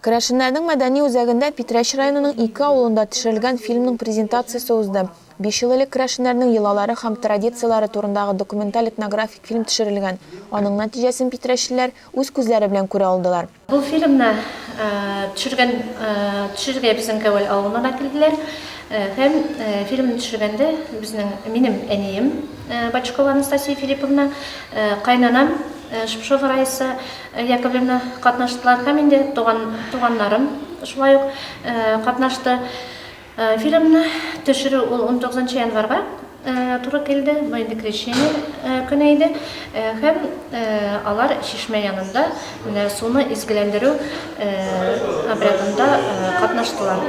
Керәшеннәрнең мәдәни үзәгендә Питрәч районының ике авылында төшерелгән фильмның презентациясе узды. Биш ел элек керәшеннәрнең йолалары һәм традицияләре турындагы документаль этнографик фильм төшерелгән. Аның нәтиҗәсен питрәчлеләр үз күзләре белән күрә алдылар. Бу фильмны төшергән төшерергә безнең Кәвәл авылына да килделәр һәм фильмны төшергәндә безнең минем әнием Бочкова Анастасия Филипповна, кайнанам Шпшова Раиса, Яковлевна катнаштылар һәм инде туган туганнарым шулай ук катнашты. Фильмны төшерү ул 19 январьга туры килде, бу инде крещение көне иде һәм алар чишмә янында менә суны изгеләндерү обрядында катнаштылар.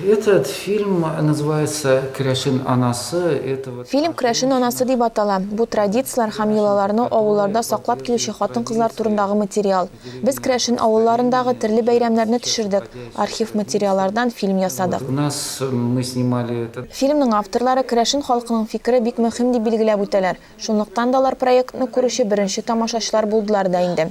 Этот фильм называется Керәшен анасы этого. Фильм Крәшен анасы дип атала. Бу традицияләр һәм йолаларны авылларда саклап килүче хатын-кызлар турындагы материал. Без Крәшен авылларындагы терле бәйрәмнәрне төшердек, архив материаллардан фильм ясадык. Фильмның авторлары Крәшен халкының фикере бик мөһим дип билгеләп үтәләр, шунлыктан да алар проектны күрүче беренче тамашачылар булдылар да инде.